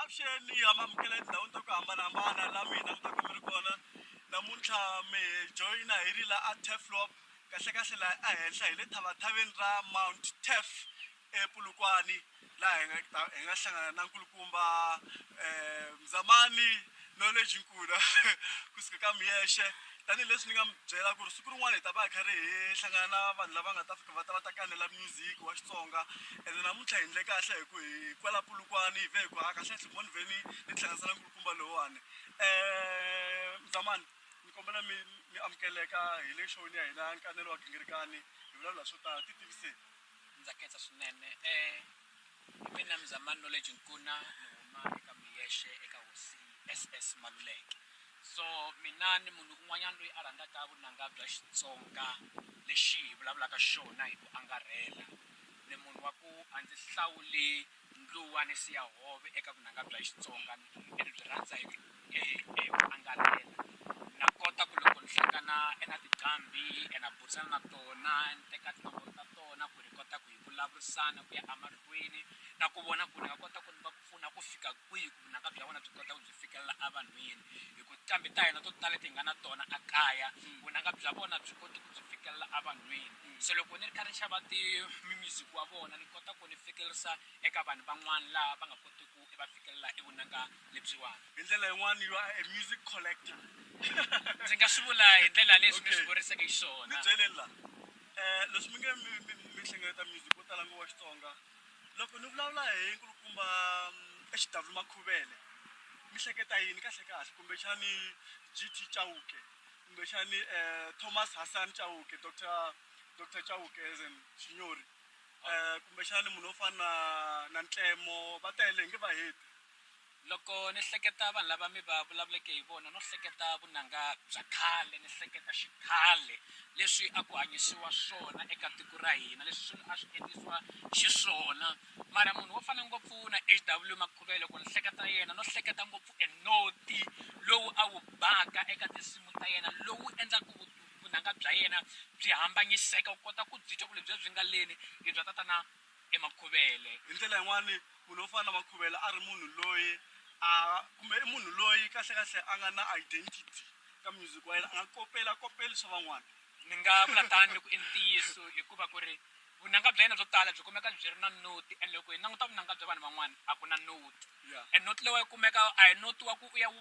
avuxeni hi amamukela etindhawini ta ku hambanahambana la mina mi ta ku mi ri kona namuntlha mi joyina hi ri la a teflop kahlekahle laha ehenhla hi le thavathaveni ra mount tef ePolokwane laha hi nga ta hi nga hlangana na nkulukumba um Mzamani Knowledge Nkuna kusuka ka Miyexe tanihileswi ni nga mi byela ku ri siku rin'wana hi ta va hi karhi hi hlangana na vanhu lava nga ta fika va ta va ta kanela music wa Xitsonga ene namuntlha hi endle kahle hi ku hi kwala Polokwane hi ve hi ku ha kahle kahle mo ni ve ni ni tihlanganisa na nkulukumba lowuwani um Mzamani ni kombela mi mi amukeleka hi le xoni ya hina nkanelo wa gingirikani hi vulavula swo tala ti tiviseni ndza khensa swinene e hi mina mzamani knowledge nkuna ni huma eka miyexe eka hosi ss maluleke so mina ni munhu un'wanyana loyi a rhandzaka vunanga bya xitsonga lexi hi vulavulaka xona hi ku angarhela ni munhu wa ku a ndzi hlawuli Ndluwa ni siya hove eka vunanga bya Xitsonga ni byi rhandza hi ku angarhela na kota ku loko ni hlangana na tinqambi na burisana na tona ni teka tinomboro ta tona ku ni kota ku hi vulavurisana ku ya emahlweni na ku vona ku ni nga kota ku ni va pfuna ku fika kwihi. vunanga bya vona byi kota ku byi fikelela evanhwini hi ku nqambi ta hina to tala leti hi nga na tona a kaya vunanga bya vona byi koti ku byi fikelela evanhwini se loko ni ri kha ni xava ti mi-music wa vona ni kota ku ni fikelelisa eka vanhu van'wana laha va nga koti ku va fikelela i vunanga lebyiwani hi ndlela yin'wani you are a music collector ndzi nga swi vula hi ndlela leswi ni swi vurisaku xiswona ni byeleni la um leswi mi nge mi mi mi hlengeleta music wo tala ngopfu wa Xitsonga. loko ni vulavula hi nkulukumba mm, exidavulu makhuvele mi hleketa yini kahle kahle kumbexani gt chauke kumbexani um thomas hassan chauke dr dr chauke as in xinyori um kumbexani munhu wo fana na na ntlemo va tele hi nge va heti Loko ni hleketa vanhu lava mi va vulavuleke hi vona no hleketa vunanga bya khale ni hleketa xikhale leswi a ku hanyisiwa swona eka tiko ra hina leswi swilo a swi endlisiwa xiswona mara munhu wo fana ngopfu na HW Makhuvele loko ni hleketa yena no hleketa ngopfu e noti lowu a wu baka eka tinsimu ta yena lowu endlaka vunanga bya yena byi hambanyiseka u kota ku byi twa ku lebyi byi nga leni i bya tatana emakhuvele hi ndlela yin'wani munhu wo fana na makhuvele a ri munhu loyi a kumbe i munhu loyi kahlekahle a nga na identity ka music wa yena a nga kopela kopeli swa van'wana ni nga vula tani loko i ntiyiso hikuva ku ri vunanga bya yena byo tala byi kumeka byi ri na noti and loko hi languta vunanga bya vanhu van'wana a ku na noti and noti leyi wa yi kumeka a hi noti wa ku u ya wu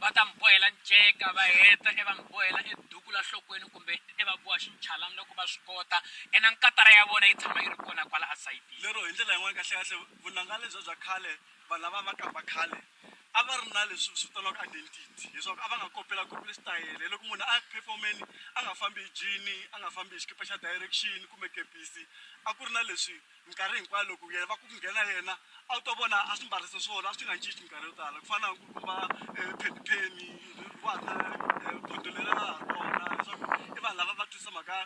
va ta mi bohela nceka va heta e va mi bohela e duku la nhlokweni kumbe e va boha xinchalani loko va swi kota ena nkatara ya vona yi tshama yi ri kona kwala asayitini lero hi ndlela yin'wana kahlekahle vunanga lebya bya khale vanhu lava va kamba khale a va ri na leswi swi vitaniwaka identity leswaku a va nga kopela kopeli xitayele loko munhu a performeni a nga fambi hi jini a nga fambi hi xikipa xa direction kumbe kepisi a ku ri na leswi minkarhi hinkwayo loko yena va ku nghena yena a wu to vona a swi mbarisa swona a swi nga cinci minkarhi yo tala ku fana na ku kuma eh, phenipheni vana eh, bodo leri nga ha kona leswaku i vanhu lava va tisa mhaka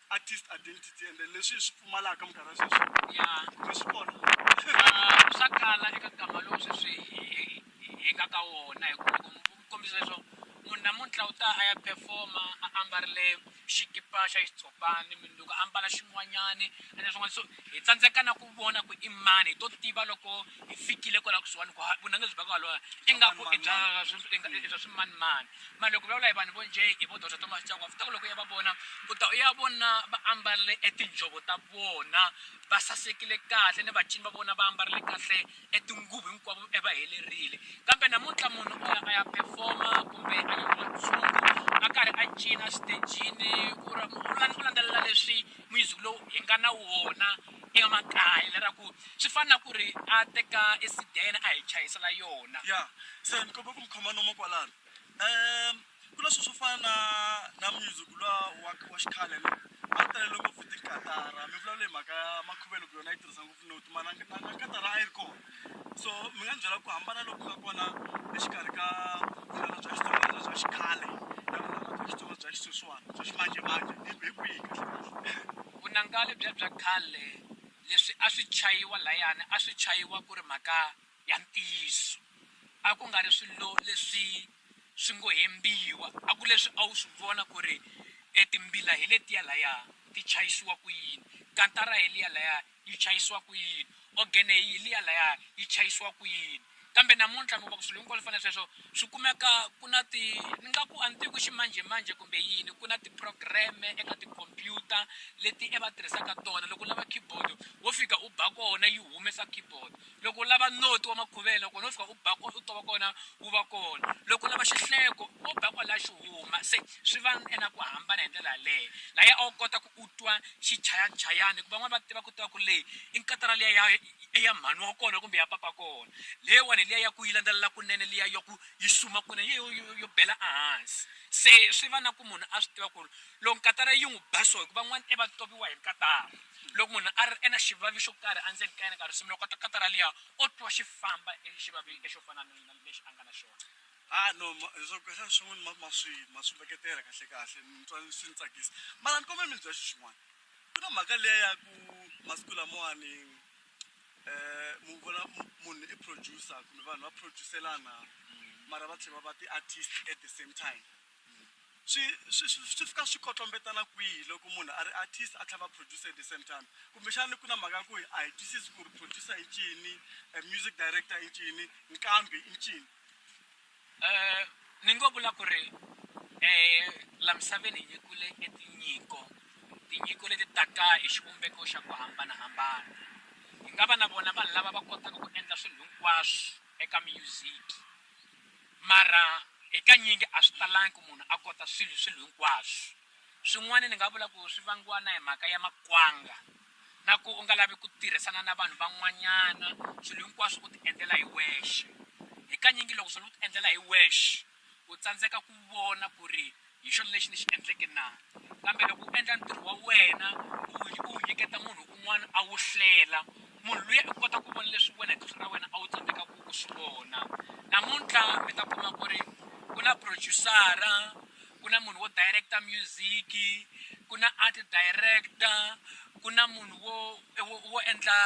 artist identity ende leswi swi pfumalaka minkarhi ya sweswi ya kumbe swi kona Ah, swa kala eka nkama lowu sweswi hi- hi- hi- hi nga ka wona hikuva ku ku kombisa leswo munhu namuntlha u ta a ya performa a ambarile xikipa xa xitshopani minduku a mbala xin'wanyani a na swin'wana so hi tsandzeka na ku vona ku i mani hi to tiva loko hi fikile kwala kusuhani ku vunanga byi va ku halwa ingaku i bya i bya swimanimani mara loko vulavula hi vanhu vo njhe hi vo dr thomas chakwa futa ku loko u ya va vona u ta u ya vona va ambarile etinjhovo ta vona va sasekile kahle ni vacini va vona va ambarile kahle etinguvu hinkwavo e va helerile kambe namuntlha munhu o ya a ya performa kumbe a nyikiwa ntshungu a karhi a cina xitejini ku ra u landzelela leswi music lowu hi nga na wona emakaya lera ku swi fana na ku ri a teka esidene a hi chayisela yona ya se ni kombela ku mi khoma nomu kwalano um ku na sweswo fana na na music luwa wa wa xikhale lowu a wu talele ngopfu tikatara mi vulavula hi mhaka ya makhuvelo ku yona yi tirhisa ngopfu noti mana na na katara a yi ri kona so mi nga ni byela ku hambana loku nga kona exikarhi ka vunanga bya xitsonga bya xikhale na vunanga bya xitsonga bya xisweswana bya ximanjemanje hi hi kwihi kahle vunanga lebyi bya khale leswi a swi chayiwa layani a swi chayiwa ku ri mhaka ya ntiyiso a ku nga ri swilo leswi swi ngo hembiwa a ku leswi a wu swi vona ku ri e timbila hi letiya laya ti chayisiwa ku yini kantara hi liya laya yi chayisiwa ku yini ogene hi liya laya yi chayisiwa ku yini kambe namuntlha mi va ku swilo hinkwaswo fana sweswo swi kumeka ku na ti ni nga ku a ni tivi ku ximanjhemanjhe kumbe yini ku na ti-program-e eka tikhompyuta leti e va tirhisaka tona loko u lava keyboard wo fika u ba kona yi humesa keyboard. loko u lava noti wa makhuvela kona u fika u ba kona u tova kona wu va kona loko u lava xihleko wo ba kwalaya xi huma se swi va ena ku hambana hi ndlela yaleyo laya a wu kota ku u twa xichayachayani hikuva van'wani va tiva ku tiva ku leyi i nkatara liya ya ya mhani wa kona kumbe ya papa kona leyiwani hi liya ya ku yi landzelela kunene liya ya ku yi suma kunene yo yo yo bela ehansi se swi va na ku munhu a swi tiva ku ri loko nkatara yi n'wi ba so hikuva van'wani i va toviwa hi nkatara loko munhu a ri e na xivavi xo karhi endzeni ka yena ka risimu loko katakata ra liya o twa xi famba exivavi lexo fana na lexi a nga na xona ha no leswaku xana swin'wana ma ma swi ma swi veketela kahle kahle ni twa swi ni tsakisa mara ni kombela mi ni byela xi xin'wana ku na mhaka liya ya ku masiku lamawani um mu vona munhu i producer kumbe vanhu va producelana mara va tlhela va va ti-artist at the same time swi swi swi swi fika swi kotlombetana kwihi loko munhu a ri artist a tlhela va producer at the same time kumbexani ku na mhaka ku a hi twisisi ku ri producer i ncini eh, music director i ncini nkambi i ncini Eh, ni ngo vula ku ri um la misaveni hi nyikule e tinyiko tinyiko leti taka hi xivumbeko xa ku hambanahambana hi nga va na vona vanhu lava va kotaka ku endla swilo hinkwaswo eka music Mara hikanyingi a swi talangi ku munhu a kota swilo swilo hinkwaswo. Swin'wana ni nga vula ku swi vangiwa na hi mhaka ya makwanga na ku u nga lavi ku tirhisana na vanhu van'wanyana, swilo hinkwaswo u ti endlela hi wexe. Hikanyingi loko swilo u ti endlela hi wexe u tsandzeka ku vona ku ri hi xona lexi ni xi endleke na kambe loko u endla ntirho wa wena u wu nyiketa munhu un'wana a wu hlela munhu luya u kota ku vona leswi wena hi tihlo ra wena a wu tsandzeka ku ku swi vona namuntlha mi ta kuma ku ri ku na producer-a ku na munhu wo direct-a music-i ku na art director ku na munhu wo wo wo endla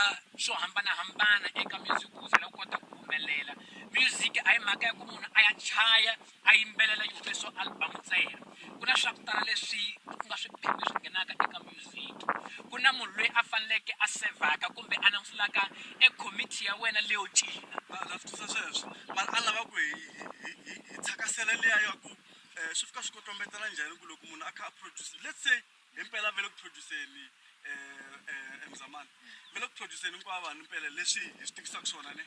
swo hambanahambana eka music ku ze la kota ku humelela music a hi mhaka ya ku munhu a ya chaya a yimbelela yi humesiwa album ntsena ku na swa ku tala leswi ku nga swiphemu leswi nghenaka eka music ku na munhu loyi a faneleke a sevhaka kumbe a langutulaka e committee ya wena leyo cina na na swi twisisa sweswo mara a lava ku hi hi- hi- hi hi thakasela liya ya ku um swi fika swi kotombetela njhani ku loko munhu a kha a produce let's say impela vele ku produceni eh mzamani vele ku produceni kwa vanhu impela leswi hi swi tikisaka swona ne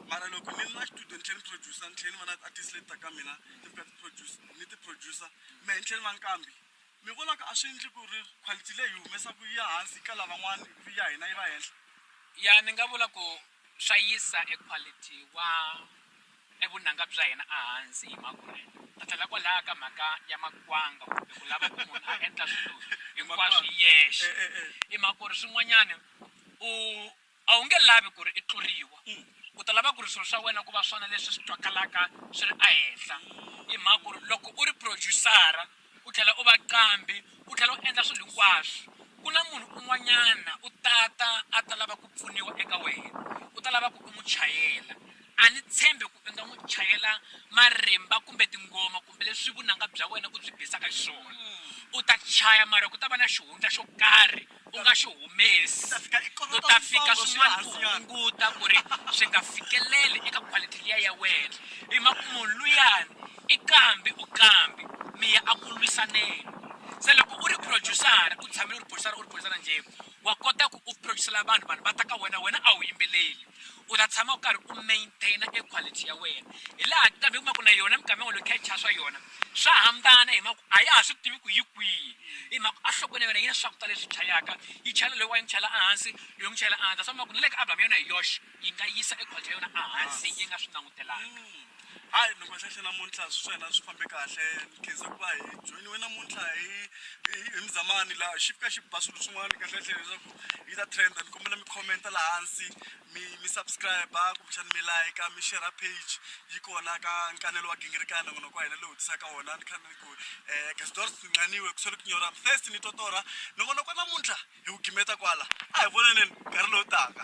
mara loko ni na studio ni tlhela ni producer ni tlhela ni va na artist leti taka mina ti fika ti produce ni ti producer me ni tlhela ni va nkambi mi vonaka a swi endli ku ri quality leyi hi humesaka yi ya hansi ka lavan'wana ivi ya hina yi va henhla ya ni nga vula ku swa yisa e quality wa ni vunanga bya hina ehansi hi makurheta. Ta tlhela kwalaya ka mhaka ya makwanga kumbe ku lava ku munhu a endla swilo hinkwaswo hi yexe i mhaka ku ri swin'wanyana u a wu nge lavi ku ri i tluriwa u ta lava ku ri swilo swa wena ku va swona leswi swi twakalaka swi ri ehenhla i mhaka ku ri loko u ri producer-a U tlhela u va qambhi, u tlhela u endla swilo hinkwaswo. Ku na munhu un'wanyana u ta ta a ta lava ku pfuniwa eka wena, u ta lava ku u n'wi chayela. A ni tshembi ku i nga n'wi chayela marimba kumbe tinghoma kumbe leswi vunanga bya wena u byi bisaka xiswona. U ta chaya mara ku ta va na xihundla xo karhi u nga xi humesi, u ta fika swin'wana ku hunguta ku ri swi nga fikeleli eka quality liya ya wena. Hi mhaka ku munhu luyani i kambi u kambi mi ya a ku lwisaneni. Se loko u ri producer-a u tshamile u ri producer-a u ri producer-a njhe, wa kota ku u producer-ela vanhu, vanhu va ta ka wena, wena a wu yimbeleli. U ta tshama u karhi u maintain-a e quality ya wena. Hi laha kambe u kuma ku na yona minkama yin'wana loko hi kha hi chaya swa yona, Swa hambana hi mhaka ku a ya ha swi tivi ku yi kwihi hi mhaka ku enhlokweni ya yona yi na swakudya leswi chayaka yi chayela loyiwa yi n'wi chayela ehansi loyi n'wi chayela ehansi swa vona ku na le ka album ya yona hi yoxe yi nga yisa e quality ya yona ehansi yi nga swi langutelanga hayi mi boxexe namuntlha swi swa hina swi fambe kahle ni khensa ku va hi joyiniwe namuntlha hi hi hi muzamani laha xi fika xi ba swilo swin'wana kahlekahle leswaku yi ta trend ni kombela mi comment-a laha hansi mi mi subscribe kumbexani mi like mi share page yi kona ka nkanelo wa gingirikana n'wana kwa hina lowu tisaka wona ni kha ni ku um eh, gasdor singaniwe ku swele ku nyora first ni totora ni vona kwa namuntlha hi ku gimeta kwala a hi vonaneni nkarhi lowu taka